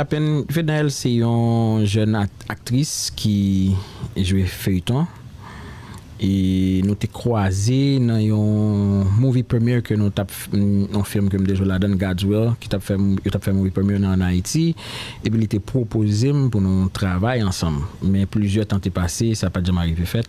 Apen Fednaelle se yon jèn aktris ki jwe feyton e nou te kwaze nan yon movie premiere ke nou tap yon film ke m te jwe ladann God's Will ki tap fè yo tap fè movie premiere nan an Ayiti epi li te pwopoze m pou nou travay ansanm men plizyè tan te pase sa pat janm arive fèt.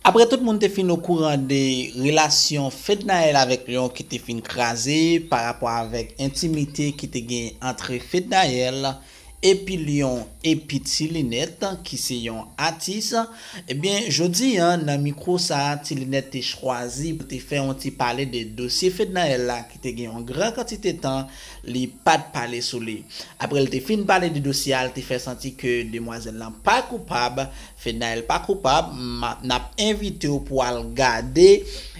Aprè tout moun te fin okouran de relasyon Fednaelle avèk Lion ki te fin kraze pa rapò avèk entimite ki te genyen antre Fednaelle epi Lion epi Ti Linèt ki se yon atis ebyen jodi an nan mikwo sa Ti Linèt te chwazi pou te fè yon ti pale de dosye Fednaelle la ki te gen yon gran kantite tan li pat pale sou li. Aprè l te fin pale de dosye a l te fè santi ke demwazèl lan pa koupab Fednaelle pa koupab m nap envitew pou al gade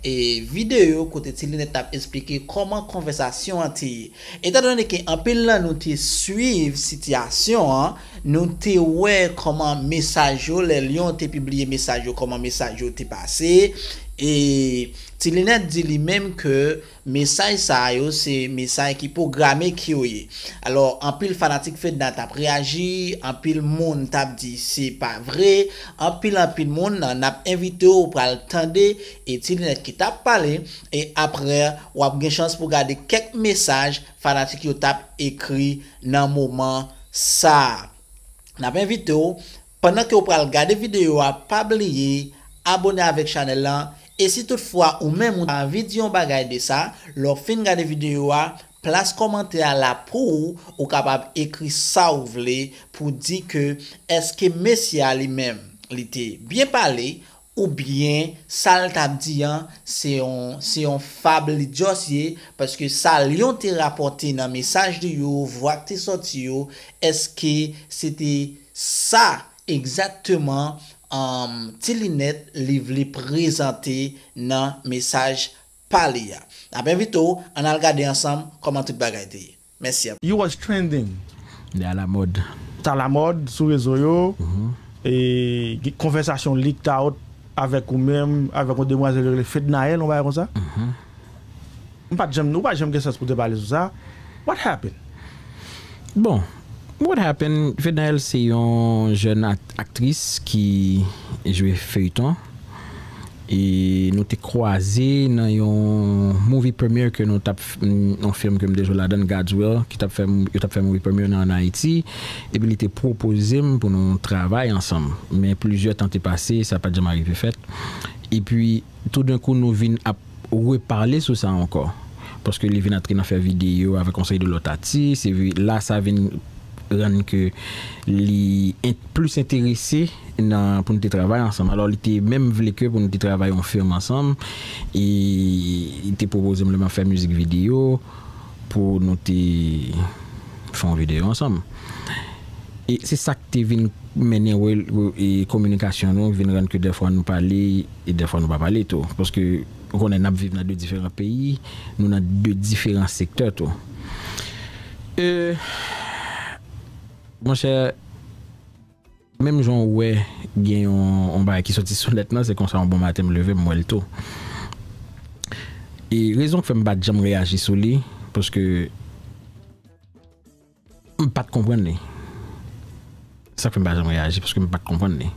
video kote ti linèt tap esplike kòman konvèsasyon an te ye etan done ke anpil nan nou te swiv sitiyasyon an nou te wè kòman mesaj yo lè Lion te pibliye mesaj yo kòman mesaj yo te pase e ti linèt di li menm ke Mesaj sa a yo se mesaj ki pwograme ki yo ye. Alò anpil fanatik Fedna t ap reyaji, anpil moun t ap di se pa vre, anpil anpil moun n ap envite w pral tande e ti linèt ki t ap pale e aprè w ap gen chans pou gade kèk mesaj fanatik yo t ap ekri nan moman sa a. N ap envite w. Pandan ke ou pral gade video a pa bliye abone avèk chanèl lan e si tout fwa ou menm ou ta anvi di yon bagay de sa lè ou fin gade video a plas kòmantè a la pouw ou kapab ekri sa ou vle pou di ke eske mesye a li menm li te byen pale Ou byen sal tap di an se yon se yon fab li just ye paske sa Lion te rapòte nan mesaj li yo vwa k te sòti yo eske se te sa egzakteman um ti linèt li vle prezante nan mesaj pa li a. Nap envite w ann al gade ansanm kòman tout bagay te ye. Mèsi anpil. You was trending. Li alamòd. T alamòd sou rezo yo. Gen konvèsasyon leaked out avèk ou menm, avèk yon demwazèl yo rele Fednaelle, yon bagay konsa. M pa t janm, ou pa janm gen sans pou w te pale sou sa. What happened? Bon, what happened, Fednaelle se yon jèn aktris ki jwe feyton. E nou te kwaze nan yon movie premiere ke nou tap yon film ke m te jwe ladan l God's Will ki tap fè yo tap fè movie premiere nan an Ayiti epi li te pwopoze m pou nou travay ansanm men plizyè tan te pase sa pat janm arive fèt epi toudenkou nou vin ap repale sou sa ankò paske li vin antre nan fè videyo avèk yon seri de lòt atis epi la sa vin rann ke li plis enterese nan pou nou te travay ansanm. Alò li te menm vle ke pou nou te travay yon film ansanm e li te pwopoze m lè m ap fè mizik videyo pou nou te fè yon videyo ansanm. E se sa k te vin mennen kominikasyon nou vin rann ke dèfwa nou pale e dèfwa nou pa pale tou. Paske. Ou konnen n ap viv nan de diferan peyi, nou nan de diferan sektè tou. E, monchè, menm jan ou wè gen yon bagay ki soti sou nèt lan, se konsa yon bon maten m leve m wè l tou. E rezon k fè m pa t janm reyaji sou li, paske. M pat konprann li. Sak fè m pa janm reyaji paske m pat konprann li.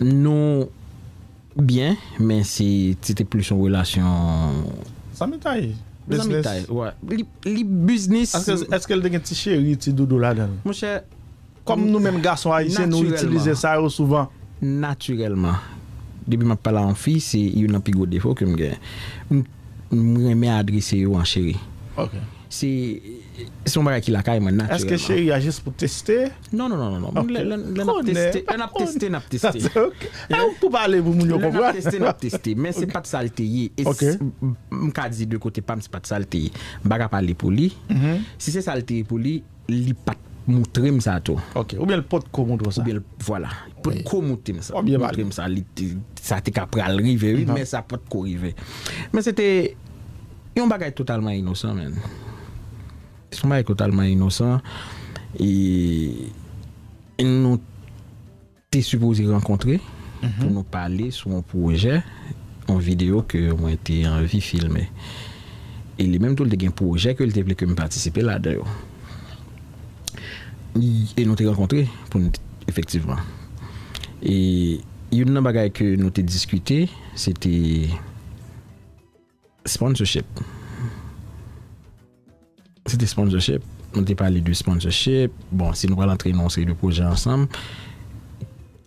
Nou byen men se se te plis yon relasyon. Zanmitay, business. Zanmitay, wi. Li business. Eske l te gen ti cheri, ti doudou ladan l? Monchè. Kòm nou menm gason ayisyen nou itilize sa yo souvan. Natirèlman. Depi map pale a yon fi se youn nan pi gwo defo kem gen. M renmen adrese yo an cheri. Ok. Se se yon bagay ki lakay mwen natirèlman. Eske cheri a jis pou teste? Non non non non. Ok. Lè nap teste, lè nap teste nap teste. Ok. Ew k pou pale pou moun yo konprann. Lè nap teste nap teste. Men se pat sal te ye. Ok. M ka di de kote pam se pat sal te ye. M pa ka pale pou li. Si se sal te ye pou li, Li pat moutrem sa tou. Ok. Ou byen l pot ko moutre w sa. Ou byen l vwala. Li pot ko moutrem sa. Ou byen pale. Moutrem sa. Sa te ka pral rive wi men sa pot ko rive. Men se te yon bagay totalman inosan men. Se yon bagay totalman inosan e nou. Te sipoze rankontre pou nou pale sou yon pwojè, yon videyo ke mwen te anvi filme. E li menm tou li te gen pwojè ke li te vle ke m patisipe ladan yo. E nou te rankontre pou n efektivman. E youn nan bagay ke nou te diskite se te. Sponsorship Se te sponsorship Nou te pale de sponsorship Bon si nou pral antre nan yon seri de pwojè ansanm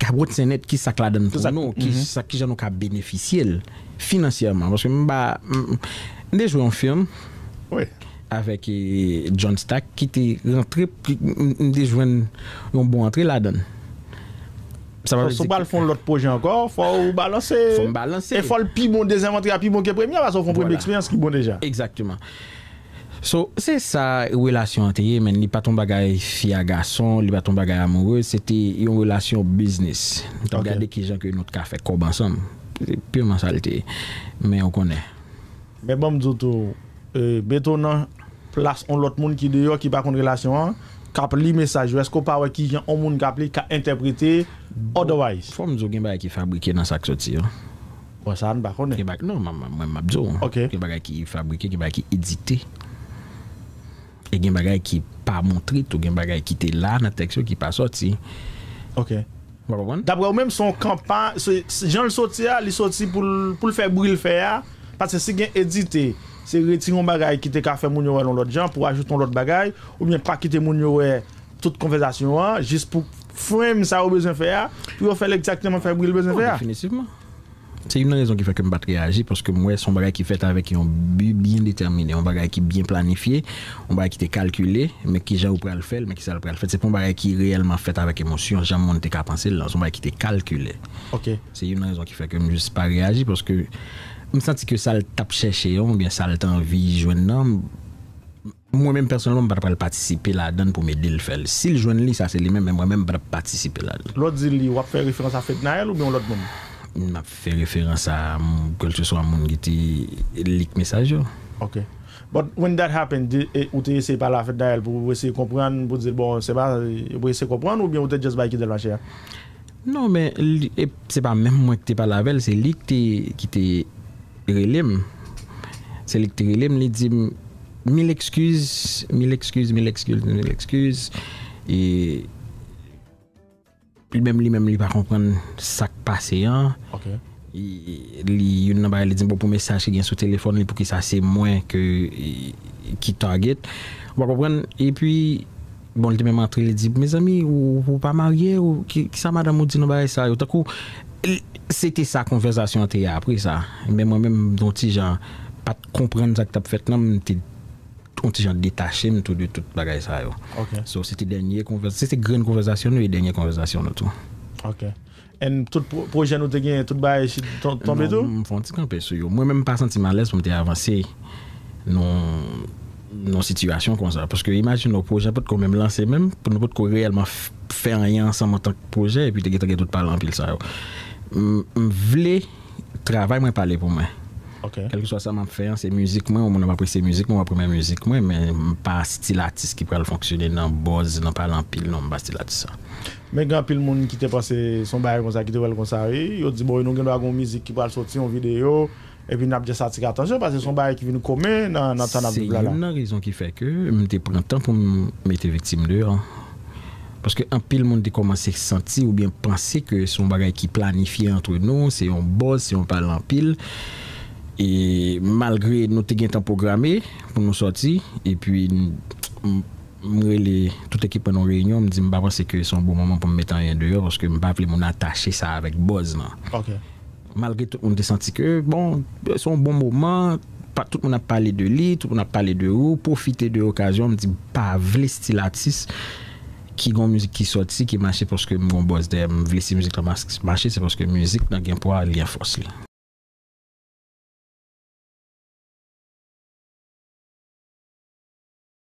Kabwòt Senèt kisa k ladann pou nou Kijan nou ka benefisye l Finansyèman Paske m pa M te jwe yon film Wi Avèk John Stack ki te rantre M te jwenn yon bon antre ladann. Sa pa vle di. Si w pral fè yon lòt pwojè ankò, fò w balanse. Fò m balanse. E fò l pi bon, dezyèm antre a pi bon ke premye a, paske w fè yon premye eksperyans ki bon deja. Egzakteman. So, se sa relasyon an te ye menn. Li pa t yon bagay fi a gason, li pa t yon bagay amoureux, se te yon relasyon biznis. Nou t ap gade kijan ke nou t ka fè kòb ansanm. Se pirman sa l te ye. Men ou konnen. Men banm di w tou, mete w nan plas on lòt moun ki deyò ki pa konn relasyon an, kap li mesaj yo, èske w pa wè kijan on moun kap li ka entèprete otherwise? Fòm di w gen bagay ki fabrike nan sak soti yo. Bon sa a n pa konnen. Gen bagay, non mwen map di w. Ok. Gen bagay ki fabrike, gen bagay ki edite. E gen bagay ki pa montre tou, gen bagay ki te la nan tèks yo ki pa sòti. Ok. Ou pa konprann? Daprè ou menm se yon kanpa, se jan l soti a, li soti pou l pou l fè bri l fè a, paske si gen edite, se retire yon bagay ki te ka fè moun yo wè l yon lòt jan, pou ajoute yon lòt bagay, oubyen pa kite moun yo wè tout konvèzasyon an, jis pou frame sa yo bezwen fè a, pou yo fè l egzakteman fè bri l bezwen fè a. Definitivman. Se youn nan rezon ki fè ke m pa t reyaji, paske m wè se yon bagay ki fèt avèk yon bi byen detèmine, yon bagay ki byen planifye, yon bagay ki te kalkile, men ki jan yo pral fè l, men ki sa l pral fèt. Se pa yon bagay ki reyèlman fèt avèk emosyon, jan moun te ka panse l lan. Se yon bagay ki te kalkile. Ok. Se youn nan rezon ki fè ke m jis pa reyaji, paske m santi ke sa l t ap chèche an, oubyen sa l t anvi jwenn nan, m. Mwen menm pèsonèlman m pa ta pral patisipe ladann pou m ede l fè l. Si l jwenn li, sa se li menm, men mwen menm m pa t ap patisipe ladann. Lè w di li, w ap fè referans a Fednaelle oubyen yon lòt moun? M ap fè referans a kèlkeswa moun ki te li k mesaj yo. Ok. But when that happened, di ou te eseye pale a Fednaelle pou eseye konprann, pou di l bon se pa, pou eseye konprann oubyen ou te just bay kite l mache a? Non men li e se pa menm mwen ki te pale avèl se li ki te ki te relem se li ki te relem li dim mil ekskiz mil ekskiz mil ekskiz mil ekskiz e li menm li menm li pa konprann sak pase an li youn nan bagay li dim bon pou mesaj ki gen sou telefòn li poukisa se mwen ke ki target ou pa konprann epi. Bon li te menm antre li di mezanmi ou pa marye ou kisa madanm ou di nan bagay sa yo tankou se te sa konvèzasyon an te ye apre sa men mwen menm yon ti jan pat konprann sak tap fèt nan m te yon ti jan detache m tou de tout bagay sa yo so se te dènye konvèzasyon se te grenn konvèzasyon nou e dènye konvèzasyon nou tou. Ok And tout pwojè nou te genyen, tout bagay shit tonbe tou? Non, m fon ti kanpe sou yo. Mwen menm m pa santi m alèz pou m te avanse nan yon sitiyasyon konsa. Paske imajine w, pwojè potko menm lanse menm, nou potko reyèlman fè anyen ansanm antank pwojè epi te gentan gen tout pale anpil sa yo. M vle travay mwen pale pou mwen. Kèlkeswa sa m ap fè an, se mizik mwen, yon moun ap apresye mizik mwen, w ap renmen mizik mwen, men m pa stil atis ki pral fonksyone nan buzz, nan pale anpil, non m pa stil atis sa. Men gen anpil moun ki te panse se yon bagay konsa ki te wè l konsa wi. Yo di bon nou gendwa gen yon mizik ki pral soti, yon videyo, epi n ap jès atire atansyon paske se yon bagay ki vin komen nan tan n ap viv la la. Se youn nan rezon ki fè ke m te pran tan pou m mete Viktim deyò. Paske anpil moun te kòmanse santi oubyen panse ke se yon bagay ki planifye antre nou, se yon buzz, se yon pale anpil. E malgre nou te gentan pwograme pou nou sòti epi m. M rele tout ekip mwen nan yon reyinyon, m di m pa panse ke se yon bon moman pou m mete anyen deyò paske m pa vle moun atache sa avèk buzz lan. Malgre tout moun te santi ke bon, se yon bon moman, tout moun ap pale de li, tout moun ap pale de ou, pwofite de okazyon an, m di m pa vle stil atis ki gen yon mizik ki sòti ki mache paske m gen yon buzz dèyè m. M vle si mizik lan mache se paske mizik lan gen pwa, li gen fòs li.